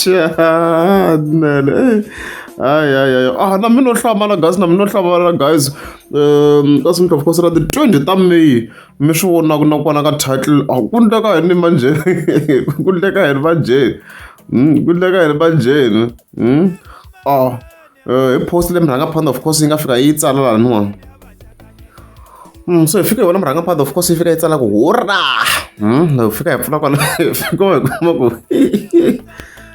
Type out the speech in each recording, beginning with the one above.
chanele hayi hayi hayi ah na mi no hlamala guys na mi no hlamala guys um ka swi mi of course ra ti twenty ta may mi swi vonaka na kwana ka title a ah, ku ndleka yini manje ku ndleka yini vanjheni hmm, ku ndleka yini vanjheni hmm? a ah. Eh, hi post leyi murhangaphanḓa of course yi nga fika yi tsala laniwani Mm, so hi fika hi vona murhangaphanḓa of course yi fika yi tsala ku hurra Mm, hi fika hi pfula kwala hi fika hi kuma ku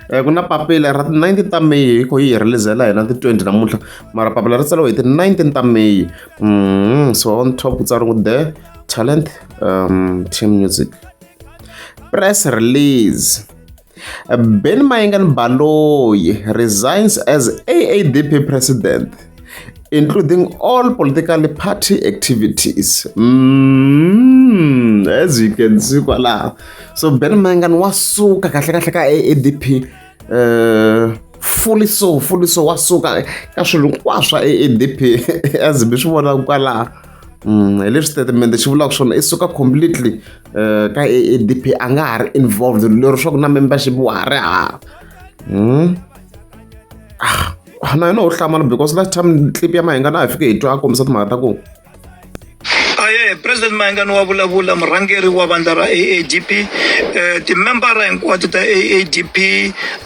Eh, ku na papila ra ti-19 ta may hi kho yi hi relizela hina ti-20 namuntlha mara papila ri tsariwe hi ti-19 ta may Mm, so on top ku tsariwe ku the talent um, team music press release Ben Mayengani Baloyi resigns as AADP president, including all political party activities. Mm, as you can see, voila. So Ben Mayengani wasuka kahle kahle ka AADP. Uh, fully so fully so wasuka ka swilo hinkwaswo swa AADP as mi swi vonaka kwalaho Mm, hi leswi statement xi vulaka swona i suka completely eh, ka aadp a nga ha ri involved lero swa ku na membership wa ha ri hava hmm? ah, ah, na yona u hlamala because last time clip ya mahinga na ha fike hi twa a kombisa timhaka ta ku aye president mahingani wa vulavula murhangeri wa vandla ra aadp um eh, timembara hinkwato ta aadp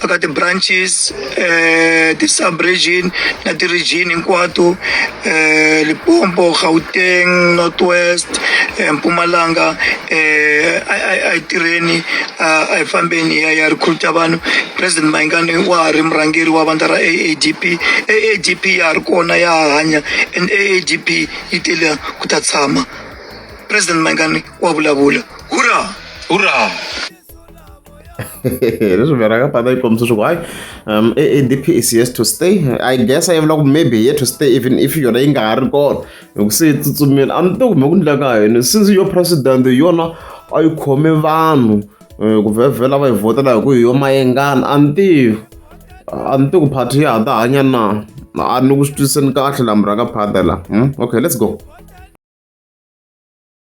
aka ti-branches eh ti subregion na ti region hinkwato eh Limpopo Gauteng Northwest eh, Mpumalanga eh a a a tirheni a hi fambeni ya ya recruit vanhu president Mayingani wa ha ri murhangeri wa vandla ra AADP AADP ya ha ri kona ya hanya and AADP yi tele ku ta tshama president Mayingani wa vulavula hurra hurra leswi veraka pata yi kombisa swa ku hayi um adp is yes to stay i guess a yi vula ku maybe here to stay even if yona yi nga ha ri kona hi ku se yi tsutsumile a ni to kume ku ndleka ka yini since yo president yona a yi khome vanhu eh, ku vhevhela va yi vhotela hi ku hi yo mayengana a ni tivi a ni tivi ku party ya ha ta hanya na a ni ku swi twisiseni kahle la muraka phata la hmm? okay let's go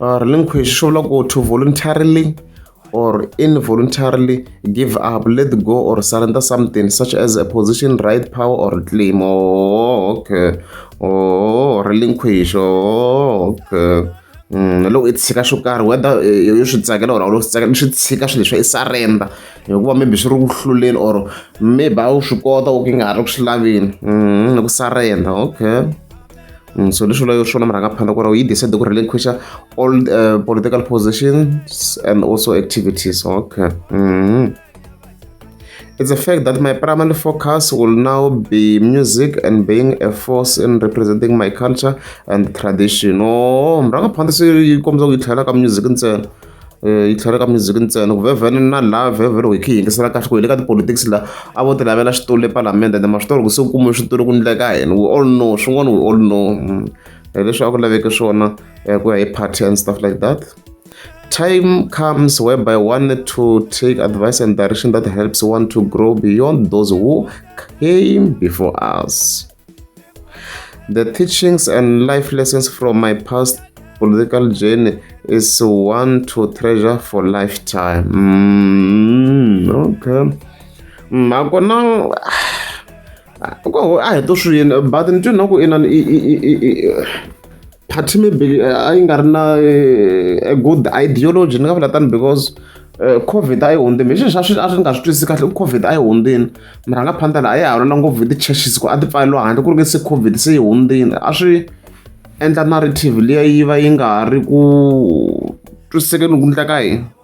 relinquish swi vula ku to voluntarily or involuntarily give up let go or surrender something such as a position right power or claim oh, okay oh, relinquish oh, okay Mm, loko i tshika swo karhi whether eh, yo swi tsakela or a wu lo swi tsakela swi tshika swilo leswi i surrender hikuva maybe swi ri ku hluleni or maybe a wu swi kota u ki nga ha ri ku swi laveni mm, ku surrender okay Mm, so leswi vulayo swona murhangaphandla ku ri yi decide ku relinquisha all uh, political positions and also activities okay mm -hmm. It's a fact that my primary focus will now be music and being a force in representing my culture and tradition. Oh, murhangaphandla se yi kombisa ku yi tlhela ka music ntsena. yi tlhela ka music ntsena ku vhevhene na laha vhevhele hi khe hi yingisela kahle ku hi le ka tipolotiksi laha a vo ti lavela xitulu le palamende ende ma swi tori ku se ku kumiwe switulu ku ndleka hina we all know swin'wana we all know mm. leswi a ku laveke swona eh, ku ya hi party and stuff like that time comes whereby one need to take advice and direction that helps one to grow beyond those who came before us The teachings and life lessons from my past political journey is one to treasure for lifetime. Mm, okay. Mm, a ku na a hi to swi yini but ni twi na ku inani party maybe eh, a yi nga ri na eh, a good ideology ni nga vula tani because eh, covid a yi hundzini hi xi xa swi a swi nga swi twisisi kahle ku covid a yi hundzini mara nga phanda laha a yi hawulana ngopfu hi ti-churches ku a ti pfaleliwa handle ku ri nge se covid se yi hundzini a swi endla narrative liya yi va yi nga ha ri ku twisisekeni ku ndla ka hina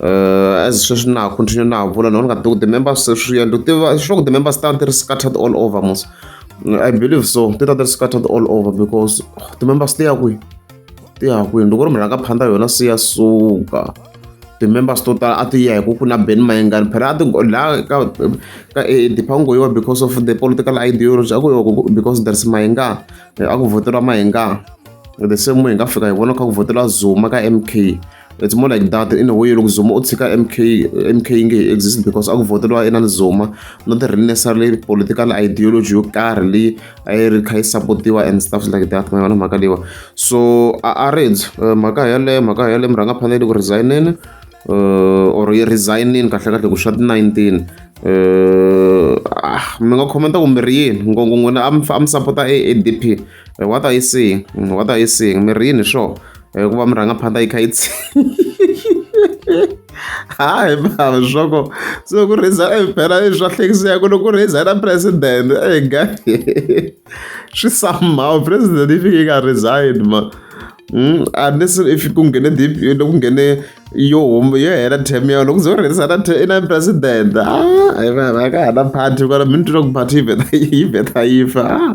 as sweswi na ha continue na ha vula no ni nga tivi ku ti-member se swi yendla u tiva swi ku ti-member stan ti ri scattered all over mos i believe so ti ta ti ri scattered all over because ti-members ti ya kwihi ti ya kwihi loko ri mhaka phanda yona se ya suka ti-members to tala a ti ya hi ku ku na ben mayengani phela a ti laha ka ka e dipango yiwa because of the political ideology a ku yiwa because there's mayengani a ku voteriwa mayengani the same way hi nga fika hi vona kha ku voteriwa zuma ka m k it's more like that in a way loko zuma u tshika mk mk yi nge yi exist because a ku voteriwa inani zuma not really necessarily political ideology yo karhi leyi a yi ri kha yi supportiwa and stuff like that ma yona mhaka leyiwa so a a red eh, mhaka yaleyo mhaka yaleyo murhangaphanele ku resigneni uh, or yi resignini kahle kahle ku swa ti-19 uh, ah, mi nga khomenta ku mi ri yini ngongo n'wina a mi sapota a adp Eh, what are you saying mm, what are you saying mi rini swo eh, ku va mi rhanga phanda yi kha yi tsi hayi bava swoko so ku rhiza eh, phela i swa hlekiseka loko ku rhiza na president ega swi somehow president yi fike yi nga resign ma Mm, unless if ku nghene deep loko nghene yo huma yo hela term ya loko ze u rherisa na na president a ah, hi vana ka ha na party kwala mi ni twa ku party yi vheta yi vheta yi fa ah.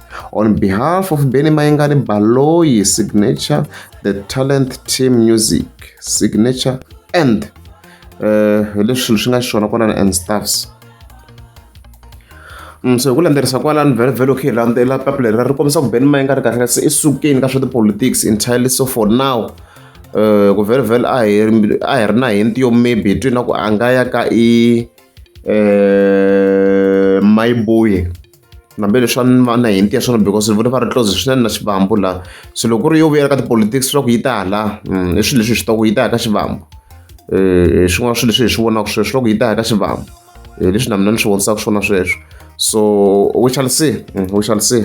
On behalf of Benny Mayengani Baloyi Signature, the Talent Team Music Signature and uh, leswi swi nga xona kwalani and staffs mm, so hi ku landzelisa kwalani vhele vhele okay landzela papu leri ri kombisa ku beni ma yi nga ri kahle kasi i sukeni ka swa tipolitics entirely so for now um ku vhele vhele a hi a hi ri na hi ntiyo maybe hi twini na ku a nga ya ka i um mayibuye nambe leswi a ni va na hinti ya swona because ni vone va ri close swinene na xivambu la so loko ku ri yo vuyela ka tipolitics swa ku yi ta hala mm, i swilo leswi hi swi taku yi ta ya ka xivambu um swin'wana swilo leswi hi swi vonaka sweswo loko yi ta ya ka xivambu um leswi na mina ni swi vonisaka swona sweswo so we shall see mm, we shall see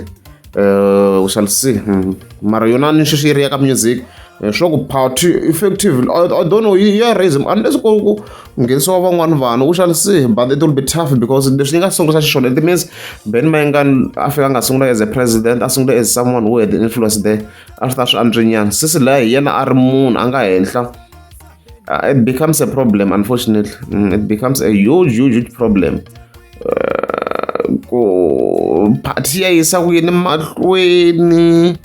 um we shall see mm. mara yona ni sweswi yi ri ya ka music leswaku party effective I, I don't know yi ya raism unless ku ku nghenisiwa van'wani vanhu u shall see but it will be tough because leswi yi nga sungula xiswona it means ben mayengan a fika a nga sungula as a president a sungula as someone who had influence there a swi ta swi antswinyana sisi laya hi yena a ri munhu a nga henhla uh, it becomes a problem unfortunately mm, it becomes a huge huge, huge problem uh, ku party ya yisa ku yini mahlweni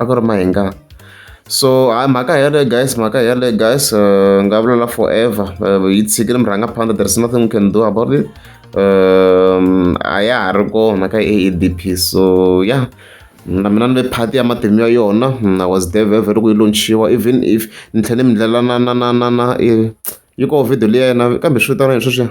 a ku ri mahinga so hayi mhaka hi yaleyo guys mhaka hi yaleyo guys uh, nga vulela forever uh, yi tshikile murhanga phanda there is nothing we can do about it um, a ya ha ri kona ka aadp so yeah na mina ni le phati ya matimu ya yona mm, i was there very very ku yi launchiwa even if ni tlhele ni ndlela na na na na na eh, yi ko video leyi ya yena kambe swi vitana yini sweswiya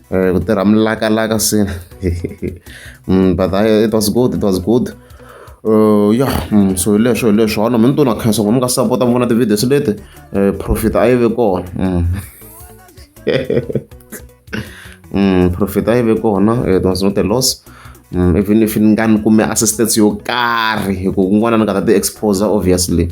Eh, ku tirha milakalaka se mm, but I, it was good it was good Uh, ya mm, so hileswo hileswo hana mi ni tona khensa ku mi nga sapota mi vona ti-videos leti eh, profit a yi ve kona mm. mm, profit a yi ve kona it was not a loss mm, even if ni nga ni kume assistance yo karhi hi ku kun'wana ni nga ta ti-exposer obviously